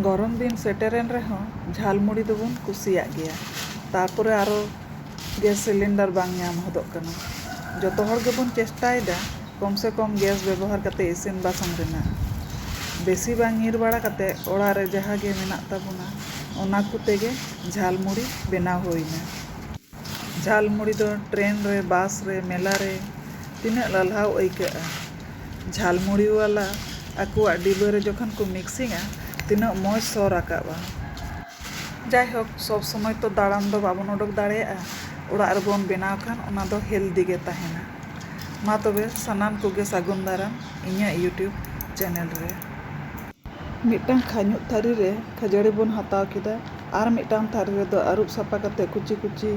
ᱜᱚᱨᱚᱢ ᱫᱤᱱ ᱥᱮᱴᱮᱨᱮᱱ ᱨᱮᱦᱚᱸ ᱡᱷᱟᱞ ᱢᱩᱲᱤ ᱫᱚᱵᱚᱱ ᱠᱩᱥᱤᱭᱟᱜ ᱜᱮᱭᱟ ᱛᱟᱨᱯᱚᱨᱮ ᱟᱨᱚ ᱜᱮᱥ ᱥᱤᱞᱤᱱᱰᱟᱨ ᱵᱟᱝ ᱧᱟᱢ ᱦᱚᱫᱚᱜ ᱠᱟᱱᱟ ᱡᱚᱛᱚ ᱦᱚᱲ ᱜᱮᱵᱚᱱ ᱪᱮᱥᱴᱟᱭᱮᱫᱟ ᱠᱚᱢ ᱥᱮ ᱠᱚᱢ ᱜᱮᱥ ᱵᱮᱵᱚᱦᱟᱨ ᱠᱟᱛᱮ ᱤᱥᱤᱱ ᱵᱟᱥᱟᱝ ᱨᱮᱱᱟᱜ ᱵᱮᱥᱤ ᱵᱟᱝ ᱧᱤᱨ ᱵᱟᱲᱟ ᱠᱟᱛᱮ ᱚᱲᱟᱜ ᱨᱮ ᱡᱟᱦᱟᱸ ᱜᱮ ᱢᱮᱱᱟᱜ ᱛᱟᱵᱚᱱᱟ ᱚᱱᱟ ᱠᱚᱛᱮ ᱜᱮ ᱡᱷᱟᱞ ᱢᱩᱲᱤ ᱵᱮᱱᱟᱣ ᱦᱩᱭᱮᱱᱟ ᱡᱷᱟᱞ ᱢᱩᱲᱤ ᱫᱚ ᱴᱨᱮᱱ ᱨᱮ, ᱵᱟᱥ ᱨᱮ, ᱢᱮᱞᱟ ᱨᱮ ᱛᱤᱱᱟᱹᱜ ᱞᱟᱞᱦᱟᱣ ᱟᱹᱭᱠᱟᱹᱜᱼᱟ᱾ ᱡᱷᱟᱞ ᱢᱩᱲᱤ ᱣᱟᱞᱟ ᱟᱠᱚᱣᱟᱜ ᱰᱤᱵᱟᱹ ᱨᱮ ᱡᱚᱠᱷᱚᱱ ᱠᱚ ᱢᱤᱠᱥᱤᱝᱼᱟ ᱛᱤᱱᱟᱹᱜ ᱢᱚᱡᱽ ᱥᱚ ᱨᱟᱠᱟᱵᱼᱟ᱾ ᱡᱟᱭᱦᱳᱠ ᱥᱚᱵᱽ ᱥᱚᱢᱚᱭ ᱛᱚ ᱫᱟᱬᱟᱱ ᱫᱚ ᱵᱟᱵᱚᱱ ᱚᱰᱚᱠ ᱫᱟᱲᱮᱭᱟᱜᱼᱟ, ᱚᱲᱟᱜ ᱨᱮᱵᱚᱱ ᱵᱮᱱᱟᱣ ᱠᱷᱟᱱ ᱚᱱᱟ ᱫᱚ ᱦᱮᱞᱫᱤ ᱜᱮ ᱛᱟᱦᱮᱸᱱᱟ᱾ ᱢᱟ ᱛᱚᱵᱮ ᱥᱟᱱᱟᱢ ᱠᱚᱜᱮ ᱥᱟᱹᱜᱩᱱ ᱫᱟᱨᱟᱢ ᱤᱧᱟᱹᱜ ᱭᱩᱴᱭᱩᱵᱽ ᱪᱮᱱᱮᱞ ᱨᱮ᱾ ᱢᱤᱫᱴᱟᱝ ᱠᱷᱟᱹᱧᱩᱜ ᱛᱷᱟᱹᱨᱤ ᱨᱮ ᱠᱷᱟᱹᱡᱟᱹᱲᱤ ᱵᱚᱱ ᱦᱟᱛᱟᱣ ᱠᱮᱫᱟ᱾ ᱟᱨ ᱢᱤᱫᱴᱟᱝ ᱛᱷᱟᱹᱨᱤ ᱨᱮᱫᱚ ᱟᱹᱨᱩᱵ ᱥᱟᱯᱷᱟ ᱠᱟᱛᱮ ᱠᱩᱪᱤ ᱠᱩᱪᱤ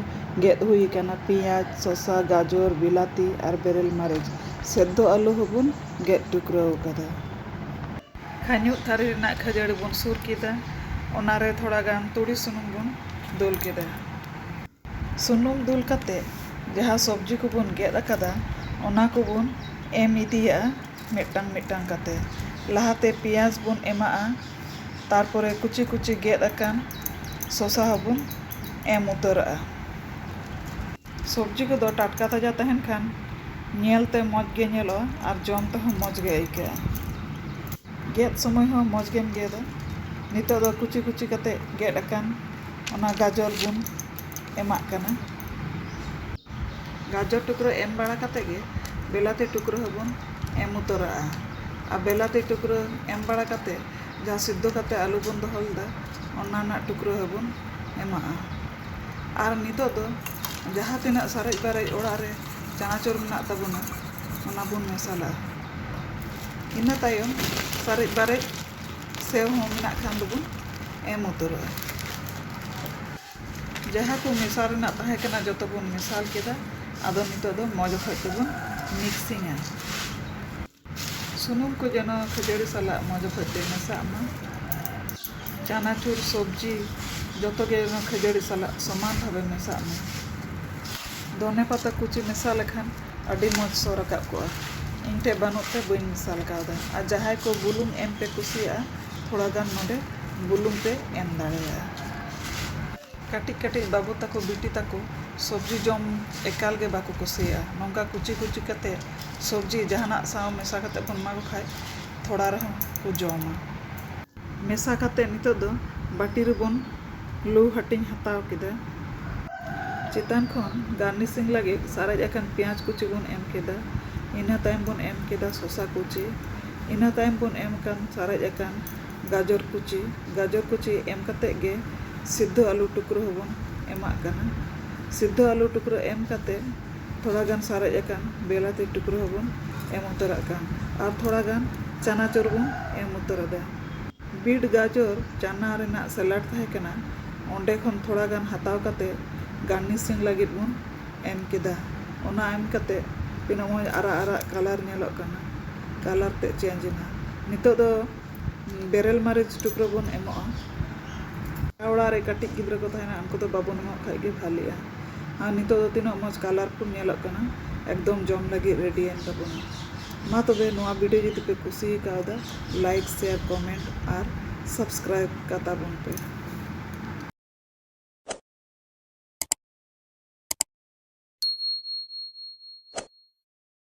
ᱜᱮᱫ ᱦᱩᱭ ᱟᱠᱟᱱᱟ ᱯᱮᱸᱭᱟᱡᱽ, ᱥᱚᱥᱟ, ᱜᱟᱡᱚᱨ, ᱵᱤᱞᱟᱹᱛᱤ ᱟᱨ ᱵᱮᱨᱮᱞ ᱢᱟᱹᱨᱤᱪ᱾ ᱥᱮᱫᱽᱫᱷᱚ ᱟᱹᱞᱩ ᱦᱚᱸ ᱵᱚᱱ ᱜᱮᱫ ᱴᱩᱠᱨᱟᱹᱣ ᱟᱠᱟᱫᱟ᱾ ᱠᱷᱟᱹᱧᱩᱜ ᱛᱷᱟᱹᱨᱤ ᱨᱮᱱᱟᱜ ᱠᱷᱟᱹᱡᱟᱹᱲᱤ ᱵᱚᱱ ᱥᱩᱨ ᱠᱮᱫᱟ᱾ ᱚᱱᱟ ᱨᱮ ᱛᱷᱚᱲᱟ ᱜᱟᱱ ᱛᱩᱲᱤ ᱥᱩᱱᱩᱢ ᱵᱚᱱ ᱫᱩᱞ ᱠᱮᱫᱟ᱾ ᱥᱩᱱᱩᱢ ᱫᱩᱞ ᱠᱟᱛᱮ ᱡᱟᱦᱟᱸ ᱥᱚᱵᱽᱡᱤ ᱠᱚᱵᱚᱱ ᱜᱮᱫ ᱟᱠᱟᱫᱟ ᱚᱱᱟ ᱠᱚᱵᱚᱱ ᱮᱢ ᱤᱫᱤᱭᱟᱜᱼᱟ ᱢᱤᱫᱴᱟᱝ ᱢᱤᱫᱴᱟᱝ ᱠᱟᱛᱮ ᱞᱟᱦᱟ ᱛᱮ ᱯᱮᱸᱭᱟᱡᱽ ᱵᱚᱱ ᱮᱢᱟᱜᱼᱟ ᱛᱟᱨᱯᱚᱨᱮ ᱠᱩᱪᱤ ᱠᱩᱪᱤ ᱜᱮᱫ ᱟᱠᱟᱱ ᱥᱚᱥᱟ ᱦᱚᱸ ᱵᱚᱱ ᱮᱢ ᱩᱛᱟᱹᱨᱟᱜᱼᱟ᱾ ᱥᱚᱵᱽᱡᱤ ᱠᱚᱫᱚ ᱴᱟᱴᱠᱟ ᱛᱟᱡᱟ ᱛᱟᱦᱮᱱ ᱠᱷᱟᱱ ᱧᱮᱞ ᱛᱮ ᱢᱚᱡᱽ ᱜᱮ ᱧᱮᱞᱚᱜᱼᱟ ᱟᱨ ᱡᱚᱢ ᱛᱮᱦᱚᱸ ᱢᱚᱡᱽ ᱜᱮ ᱟᱹᱭᱠᱟᱹᱜᱼᱟ᱾ ᱜᱮᱫ ᱥᱚᱢᱚᱭ ᱦᱚᱸ ᱢᱚᱡᱽ ᱜᱮᱢ ᱜᱮᱫᱟ᱾ ᱱᱤᱛᱚᱜ ᱫᱚ ᱠᱩᱪᱤ ᱠᱩᱪᱤ ᱠᱟᱛᱮ ᱜᱮᱫ ᱟᱠᱟᱱ ᱚᱱᱟ ᱜᱟᱡᱚᱨ ᱵᱚᱱ᱾ ᱮᱢᱟᱜ ᱠᱟᱱᱟ᱾ ᱜᱟᱡᱚᱨ ᱴᱩᱠᱨᱟᱹ ᱮᱢ ᱵᱟᱲᱟ ᱠᱟᱛᱮ ᱜᱮ ᱵᱮᱞᱟᱛᱤ ᱴᱩᱠᱨᱟᱹ ᱦᱚᱸ ᱵᱚᱱ ᱮᱢ ᱩᱛᱟᱹᱨᱟᱜᱼᱟ᱾ ᱟᱨ ᱵᱮᱞᱟᱛᱤ ᱴᱩᱠᱨᱟᱹ ᱮᱢ ᱵᱟᱲᱟ ᱠᱟᱛᱮ ᱡᱟᱦᱟᱸ ᱥᱤᱫᱽᱫᱷᱚ ᱠᱟᱛᱮ ᱟᱹᱞᱩ ᱵᱚᱱ ᱫᱚᱦᱚ ᱞᱮᱫᱟ ᱚᱱᱟ ᱨᱮᱱᱟᱜ ᱴᱩᱠᱨᱟᱹ ᱦᱚᱸ ᱵᱚᱱ ᱮᱢᱟᱜᱼᱟ᱾ ᱟᱨ ᱱᱤᱛᱚᱜ ᱫᱚ ᱡᱟᱦᱟᱸ ᱛᱤᱱᱟᱹᱜ ᱥᱟᱨᱮᱡ ᱵᱟᱨᱮᱡ ᱚᱲᱟᱜ ᱨᱮ ᱪᱟᱱᱟᱪᱩᱨ ᱢᱮᱱᱟᱜ ᱛᱟᱵᱚᱱᱟ ᱚᱱᱟ ᱵᱚᱱ ᱢᱮᱥᱟᱞᱟᱜᱼᱟ᱾ ᱤᱱᱟᱹ ᱛᱟᱭᱚᱢ ᱥᱟᱨᱮᱡ ᱵᱟᱨᱮᱡ᱾ ᱥᱮᱣ ᱦᱚᱸ ᱢᱮᱱᱟᱜ ᱠᱷᱟᱱ ᱫᱚᱵᱚᱱ ᱮᱢ ᱩᱛᱟᱹᱨᱚᱜᱼᱟ ᱡᱟᱦᱟᱸ ᱠᱚ ᱢᱮᱥᱟ ᱨᱮᱱᱟᱜ ᱛᱟᱦᱮᱸ ᱠᱟᱱᱟ ᱡᱚᱛᱚ ᱵᱚᱱ ᱢᱮᱥᱟᱞ ᱠᱮᱫᱟ ᱟᱫᱚ ᱱᱤᱛᱚᱜ ᱫᱚ ᱢᱚᱡᱽ ᱚᱠᱚᱡ ᱛᱮᱵᱚᱱ ᱢᱤᱠᱥᱤᱝᱟ ᱥᱩᱱᱩᱢ ᱠᱚ ᱡᱮᱱᱚ ᱠᱷᱟᱹᱡᱟᱹᱲᱤ ᱥᱟᱞᱟᱜ ᱢᱚᱡᱽ ᱚᱠᱚᱡ ᱛᱮ ᱢᱮᱥᱟᱜ ᱢᱟ ᱪᱟᱱᱟᱪᱩᱨ ᱥᱚᱵᱽᱡᱤ ᱡᱚᱛᱚ ᱜᱮ ᱡᱮᱱᱚ ᱠᱷᱟᱹᱡᱟᱹᱲᱤ ᱥᱟᱞᱟᱜ ᱥᱚᱢᱟᱱ ᱵᱷᱟᱵᱮ ᱢᱮᱥᱟᱜ ᱢᱟ ᱫᱷᱚᱱᱮ ᱯᱟᱛᱟ ᱠᱩᱪᱤ ᱢᱮᱥᱟ ᱞᱮᱠᱷᱟᱱ ᱟᱹᱰᱤ ᱢᱚᱡᱽ ᱥᱚ ᱨᱟᱠᱟᱵ ᱠᱚᱜᱼᱟ ᱤᱧ ᱴᱷᱮᱱ ᱵᱟᱹᱱᱩᱜ ᱛᱮ ᱵᱟᱹᱧ ᱢᱮᱥᱟ ᱠᱟᱣᱫᱟ ᱟᱨ ᱡᱟᱦᱟᱸᱭ ᱠᱚ ᱵᱩᱞᱩᱝ ᱮᱢ ᱯᱮ ᱠᱩᱥᱤᱭᱟᱜᱼᱟ ᱛᱷᱚᱲᱟ ᱜᱟᱱ ᱱᱚᱰᱮ ᱵᱩᱞᱩᱝ ᱯᱮ ᱮᱢ ᱫᱟᱲᱮᱭᱟᱜᱼᱟ ᱠᱟᱹᱴᱤᱡ ᱠᱟᱹᱴᱤᱡ ᱵᱟᱹᱵᱩ ᱛᱟᱠᱚ ᱵᱤᱴᱤ ᱛᱟᱠᱚ ᱥᱚᱵᱽᱡᱤ ᱡᱚᱢ ᱮᱠᱟᱞ ᱜᱮ ᱵᱟᱠᱚ ᱠᱩᱥᱤᱭᱟᱜᱼᱟ ᱱᱚᱝᱠᱟ ᱠᱩᱪᱤ ᱠᱩᱪᱤ ᱠᱟᱛᱮ ᱥᱚᱵᱽᱡᱤ ᱡᱟᱦᱟᱱᱟᱜ ᱥᱟᱶ ᱢᱮᱥᱟ ᱠᱟᱛᱮ ᱵᱚᱱ ᱮᱢᱟ ᱠᱚ ᱠᱷᱟᱱ ᱛᱷᱚᱲᱟ ᱨᱮᱦᱚᱸ ᱠᱚ ᱡᱚᱢᱟ ᱢᱮᱥᱟ ᱠᱟᱛᱮ ᱱᱤᱛᱚᱜ ᱫᱚ ᱵᱟᱹᱴᱤ ᱨᱮᱵᱚᱱ ᱞᱩ ᱦᱟᱹᱴᱤᱧ ᱦᱟᱛᱟᱣ ᱠᱮᱫᱟ᱾ ᱪᱮᱛᱟᱱ ᱠᱷᱚᱱ ᱜᱟᱨᱱᱤᱥᱤᱝ ᱞᱟᱹᱜᱤᱫ ᱥᱟᱨᱮᱡ ᱟᱠᱟᱱ ᱯᱮᱸᱭᱟᱡᱽ ᱠᱩᱪᱤ ᱵᱚᱱ ᱮᱢ ᱠᱮᱫᱟ᱾ ᱤᱱᱟᱹ ᱛᱟᱭᱚᱢ ᱵᱚᱱ ᱮᱢ ᱠᱮᱫᱟ ᱥᱚᱥᱟ ᱠᱩᱪᱤ᱾ ᱤᱱᱟᱹ ᱛᱟᱭᱚᱢ ᱵᱚᱱ ᱮᱢ ᱟᱠᱟᱱ ᱥᱟᱨᱮᱡ ᱟᱠᱟᱱ ᱜᱟᱡᱚᱨ ᱠᱩᱪᱤ᱾ ᱜᱟᱡᱚᱨ ᱠᱩᱪᱤ ᱮᱢ ᱠᱟᱛᱮ ᱜᱮ ᱥᱤᱫᱷᱚ ᱟᱹᱞᱩ ᱴᱩᱠᱨᱟᱹ ᱦᱚᱸᱵᱚᱱ ᱮᱢᱟᱜ ᱠᱟᱱᱟ᱾ ᱥᱤᱫᱷᱚ ᱟᱹᱞᱩ ᱴᱩᱠᱨᱟᱹ ᱮᱢ ᱠᱟᱛᱮ᱾ ᱛᱷᱚᱲᱟ ᱜᱟᱱ ᱥᱟᱨᱮᱡ ᱟᱠᱟᱱ ᱵᱮᱞᱟᱛᱤ ᱴᱩᱠᱨᱟᱹ ᱦᱚᱸ ᱵᱚᱱ ᱮᱢ ᱩᱛᱟᱹᱨᱟᱜ ᱠᱟᱱ ᱟᱨ ᱛᱷᱚᱲᱟ ᱜᱟᱱ ᱪᱟᱱᱟᱪᱚᱨ ᱵᱚᱱ ᱮᱢ ᱩᱛᱟᱹᱨ ᱟᱫᱟ᱾ ᱵᱤᱴ ᱜᱟᱡᱚᱨ ᱪᱟᱱᱟ ᱨᱮᱱᱟᱜ ᱥᱮᱞᱟᱰ ᱛᱟᱦᱮᱸ ᱠᱟᱱᱟ ᱚᱸᱰᱮ ᱠᱷᱚᱱ ᱛᱷᱚᱲᱟ ᱜᱟᱱ ᱦᱟᱛᱟᱣ ᱠᱟᱛᱮ ᱜᱟᱨᱱᱤᱥᱤᱝ ᱞᱟᱹᱜᱤᱫ ᱵᱚᱱ ᱮᱢ ᱠᱮᱫᱟ᱾ ᱚᱱᱟ ᱮᱢ ᱠᱟᱛᱮ ᱛᱤᱱᱟᱹᱜ ᱢᱚᱡᱽ ᱟᱨᱟᱜ ᱟᱨᱟᱜ ᱠᱟᱞᱟᱨ ᱧᱮᱞᱚᱜ ᱠᱟᱱᱟ᱾ ᱠᱟᱞᱟᱨ ᱛᱮᱫ ᱪᱮᱧᱡᱽ ᱮᱱᱟ᱾ ᱱᱤᱛᱚᱜ ᱫᱚ ᱵᱮᱨᱮᱞ ᱢᱟᱹᱨᱤᱪ ᱴᱩᱠᱨᱟᱹ ᱵᱚᱱ ᱮᱢᱚᱜᱼᱟ᱾ ᱡᱟᱦᱟᱸᱭ ᱚᱲᱟᱜ ᱨᱮ ᱠᱟᱹᱴᱤᱡ ᱜᱤᱫᱽᱨᱟᱹ ᱠᱚ ᱛᱟᱦᱮᱱᱟ ᱩᱱᱠᱩ ᱫᱚ ᱵᱟᱵᱚᱱ ᱮᱢᱟᱜ ᱠᱷᱟᱡ ᱜᱮ ᱵᱷᱟᱞᱮᱜᱼᱟ᱾ ᱟᱨ ᱱᱤᱛᱚᱜ ᱫᱚ ᱛᱤᱱᱟᱹᱜ ᱢᱚᱡᱽ ᱠᱟᱞᱟᱨᱯᱷᱩᱞ ᱧᱮᱞᱚᱜ ᱠᱟᱱᱟ ᱮᱠᱫᱚᱢ ᱡᱚᱢ ᱞᱟᱹᱜᱤᱫ ᱨᱮᱰᱤᱭᱮᱱ ᱛᱟᱵᱚᱱᱟ ᱢᱟ ᱛᱚᱵᱮ ᱱᱚᱣᱟ ᱵᱷᱤᱰᱤᱭᱳ ᱡᱩᱫᱤ ᱯᱮ ᱠᱩᱥᱤ ᱠᱟᱣᱫᱟ ᱞᱟᱭᱤᱠ ᱥᱮᱭᱟᱨ ᱠᱚᱢᱮᱱᱴ ᱟᱨ ᱥᱟᱵᱥᱠᱨᱟᱭᱤᱵᱽ ᱠᱟᱛᱟ ᱵᱚᱱ ᱯᱮ